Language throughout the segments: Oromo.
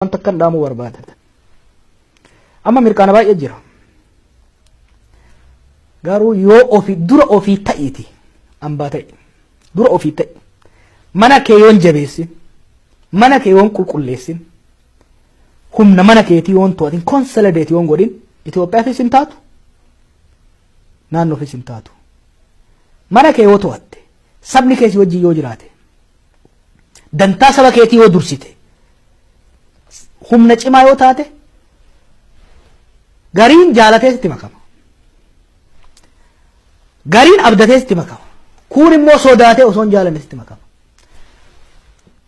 waan takkan dhaamuu barbaada amma mirqaana baay'ee jira garuu yoo ofii dura ofii ta'iiti ambaa ta'i dura ofii ta'i mana kee yoon jabeessin mana kee yoon qulqulleessin humna mana keetii yoon to'atin konsolideet yoon godhin Itoophiyaafis hin taatu naannoofis hin taatu mana kee yoo to'atte Sabni kee si wajjin yoo jiraate, dantaa saba keetii yoo dursite, humna cimaa yoo taate, gariin jaalatee sitti makama. Gariin abdatee sitti makama. Kuun immoo sodaatee osoo hin jaalanne sitti makama.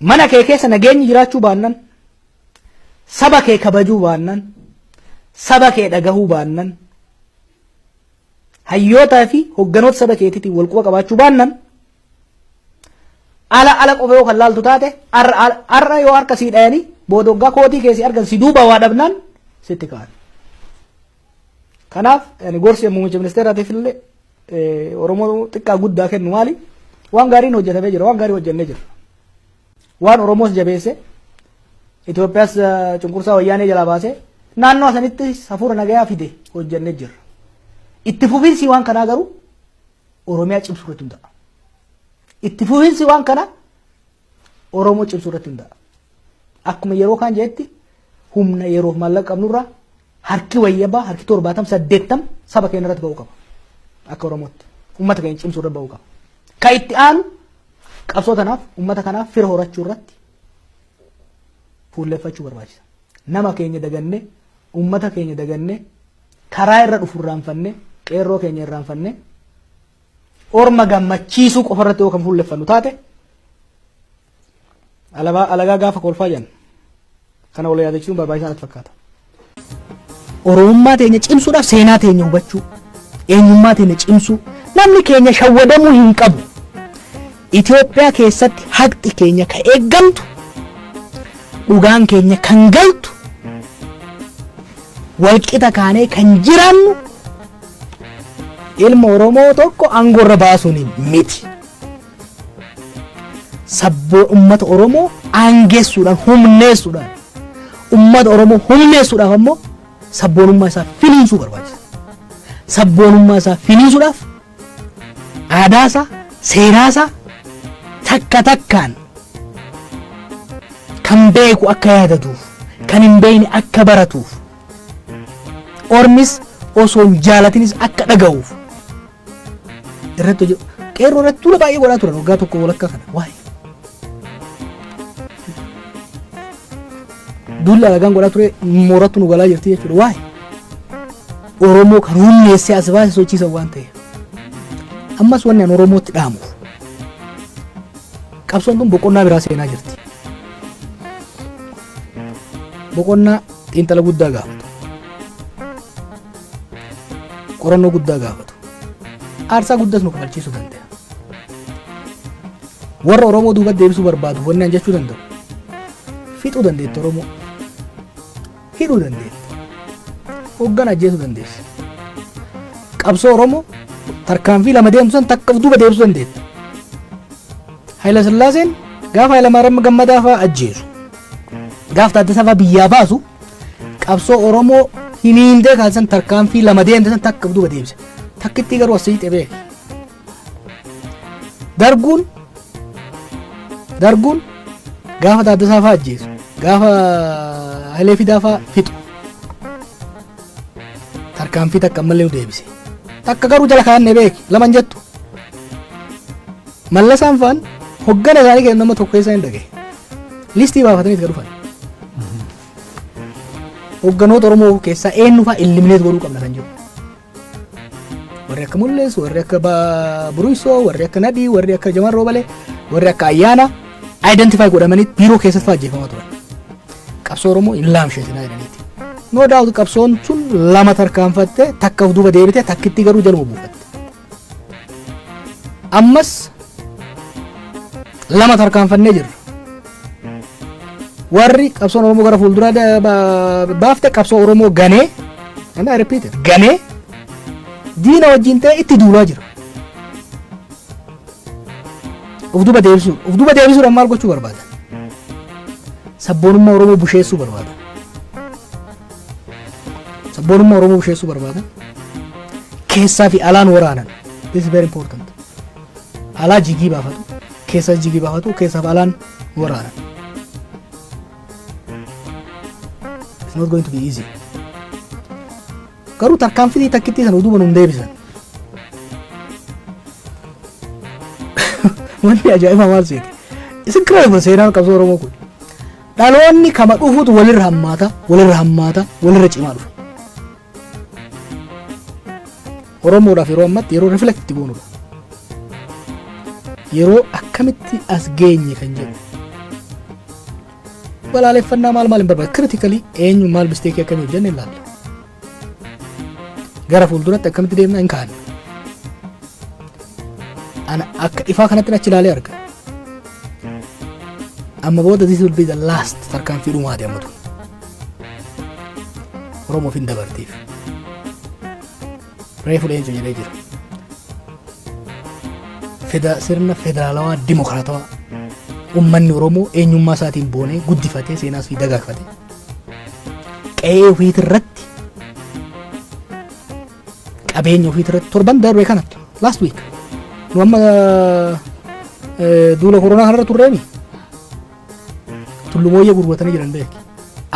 Mana kee keessa nageenyi jiraachuu baannan, saba kee kabajuu baannan, saba kee dhagahuu baannan, hayyootaa fi hogganoota saba keetiitiin wal quba qabaachuu baannan ala ala qofa yoo kan laaltu taate har'a yoo harka sii dhayanii booda waggaa kootii keessi argan si duuba waa dhabnaan sitti ka'an. Kanaaf gorsi muummicha ministeeraatiif illee Oromoo xiqqaa guddaa kennu maali? Waan gaariin hojjetamee jira, waan gaarii hojjennee jira. Waan Oromoos jabeesse Itoophiyaas cunqursaa wayyaanee jalaa baase naannoo sanitti hafuura nagayaa fide hojjannee jirra. Itti fufiinsi waan kanaa garuu Oromiyaa cimsuu irratti hundaa'a. Itti fufiinsi waan kanaa Oromoo cimsuu irratti hundaa'a. Akkuma yeroo kaan jedhetti humna yeroof maallaqa qabnurraa Harki wayyabaa harki torbaatam saddeettam saba keenya irratti ba'uu qaba. Akka Oromootti uummata keenya cimsuu irra ba'uu qaba. Ka itti aanu qabsoo tanaaf uummata kanaaf fira horachuu irratti fuulleffachuu barbaachisa. Nama keenya dagannee uummata keenya dagannee karaa irra dhufu irraanfannee qeerroo keenya irraanfannee orma gammachiisuu qofa irratti yoo kan fuulleffannu taate Alabaa alagaa gaafa kolfaa jedhan kana wal yaadachuun barbaachisaa natti fakkaata. Oromummaa teenya cimsuudhaaf seenaa teenya hubachuu, eenyummaa teenya cimsuu, namni keenya shawwadamuu hin qabu. Itoophiyaa keessatti haqxi keenya ka eeggamtu, dhugaan keenya kan galtu, walqixa kaanee kan jiraannu ilma Oromoo tokko aangoo irra baasuun miti. sabboo ummata Oromoo aangeessuudhaan humneessuudhaan ummata Oromoo humneessuudhaaf ammoo sabboonummaa isaa finiinsuu barbaachisa. Sabboonummaa isaa finiinsuudhaaf aadaa isaa seeraa isaa takka takkaan kan beeku akka yaadatuuf kan hin beekne akka baratuuf ormis osoo hin jaalatinis akka dhaga'uuf irratti hojjetu qeerroo irratti tuula baay'ee godhaa turan waggaa tokko walakkaa kana waa'ee duulla alagaan godhaa ture moorattu nu galaa jirti jechuudha waa'ee oromoo kan humneessee as baase sochiisan waan ta'eef ammas wanni an oromootti dhaamuuf qabsoon kun boqonnaa biraa seenaa jirti boqonnaa xiinxala guddaa gaafata qorannoo guddaa gaafatu. Aarsaa guddas nu kaffalchiisuu danda'a. Warra Oromoo duuba deebisuu barbaadu wanni an jechuu danda'u. Fixuu dandeetti Oromoo. Hidhuu dandeetti. Hoggan ajjeesuu dandeessi. Qabsoo Oromoo tarkaanfii lama deemtu san takka of duuba deebisuu dandeetti. Hayila Sillaaseen gaafa Hayila Maaram Gammadaa fa'aa ajjeesu. Gaaf Taaddasaa fa'aa biyyaa baasu qabsoo Oromoo hiniindee kan san tarkaanfii lama deemte san takka duuba deemse. Takkittii garuu as siixee beeka. Darguun darguun gaafa Taaddasaa fa'aa ajjeesu gaafa Hayilee Fidaa fa'aa fixu. Tarkaanfii takka ammallee nu deebise. Takka garuu jala kaa'annee beeki laman jettu. Mallasaan fa'aan hoggana isaanii kennu nama tokko keessa hin dhagaye. Listii baafatanii itti dhufan. Hogganoota Oromoo keessaa eenyu fa'aa illimineet godhuu qabna kan jiru. Warri akka Mul'ees, warri akka Ba- Buruusoo, warri akka Nadhii, warri akka Jamaan Roobalee, warri akka Ayyaana identify godhamanii biiroo keessatti fa'aa ajjeefamaa turan. Qabsoo Oromoo hin laamsheetinaa jedhaniiti. No doubt qabsoon sun lama tarkaanfattee takka of duuba deebitee takkitti garuu jaluma buufatte. ammas lama tarkaanfannee jirra warri qabsoon oromoo gara fuulduraa da- ba- baafte qabsoo oromoo ganee and I repeat it, ganee diina wajjin ta'e itti duulaa jira of duba deebisuun of duba deebisuudhaan maal gochuu barbaada sabboonummaa oromoo busheessuu barbaada Sabboonummaa Oromoo busheessuu barbaada. Keessaa fi alaan waraanan. This is very important. Alaa jigii baafatu. Keessaa jigii baafatu. Keessaa fi alaan waraanan. It's not going to be easy. Garuu tarkaanfii takkittii sana uduuban hin deebisan. Wanni ajaa'ibaa maal seete? It's incredible seenaan qabsoo Oromoo kun. Dhaloonni kama dhufutu walirra hammaata, walirra hammaata, walirra cimaa dhufa. Oromoodhaaf yeroo ammatti yeroo reflect itti goonudha. Yeroo akkamitti as geenye kan jedhu. Balaaleffannaa maal maal hin barbaadu. Critically eenyu maal misteekii akkamii hojjenne ilaalla. Gara fuulduratti akkamitti deemna hin kaa'anne. Ana akka ifaa kanatti achi ilaalee arga. Amma booda this will be the last tarkaanfii dhumaa deematu. Oromoof hin dabartiif. Reefu leencu jedhee jira. Feda sirna federaalawaa dimokiraatawaa ummanni Oromoo eenyummaa isaatiin boonee guddifatee seenaas fi dagaagfatee qe'ee ofiiti irratti qabeenya ofiiti irratti torban darbe kanatti last week nu amma eh, duula koronaa kanarra turreemi tullumooyyee gurguratanii jiran beeki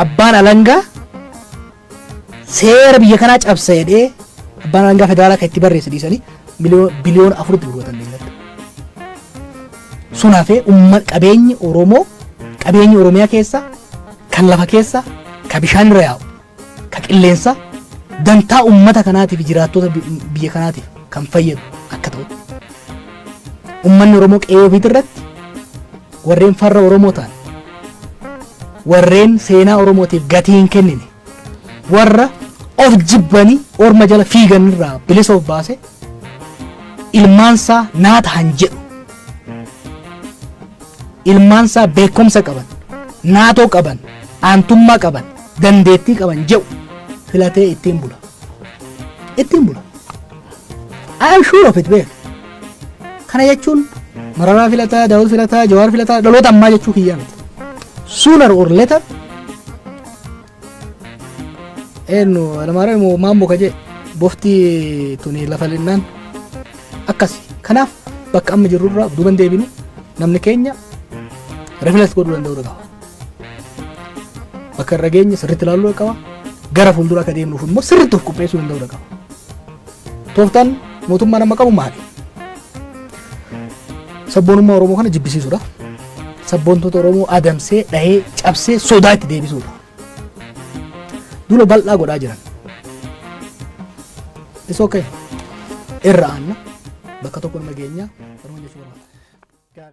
abbaan alangaa seera biyya kanaa cabsa jedhee abbaan alangaa federaalaa kan itti barreesse dhiisanii miliyoon biliyoona afuritti gurguratan beeylada Sun hafee umma qabeenyi Oromoo qabeenyi Oromiyaa keessa kan lafa keessa ka bishaan irra yaa'u ka qilleensa dantaa ummata kanaatiif jiraattota bi- biyya kanaatiif kan fayyadu akka ta'u. Ummanni Oromoo qe'ee ofiitii irratti warreen farra Oromoo ta'an warreen seenaa Oromootiif gatii hin kennine warra of jibbanii orma jala fiigan irraa bilisa of baase ilmaansaa naa tahan jedhu ilmaansaa beekumsa qaban naatoo qaban aantummaa qaban dandeettii qaban jedhu filatee ittiin bula ittiin bula I am sure of it beek. Kana jechuun Mararaa filataa, Daawud filataa, Jawaar filataa dhaloota ammaa jechuu kiyyaa miti. Sooner or later eenyu Alamaaraa immoo maammoo ka jee bofti tuni lafa linnaan akkasi. Kanaaf bakka amma jirrurraa duuban deebinu namni keenya reflex godhuu danda'uu qaba. Bakka irra geenye sirriitti ilaaluu qaba. Gara fuuldura akka deemnuuf immoo sirriitti of qopheessuu danda'uu qaba. Tooftaan mootummaan amma qabu maali? Sabboonummaa Oromoo kana jibbisiisuudha. Sabboontoota Oromoo adamsee, dhahee, cabsee, sodaa itti deebisuudha. Duula bal'aa godhaa jiran. Isa okay. Irra aanna. Bakka tokko nama geenyaa. Oromoo jechuun barbaada.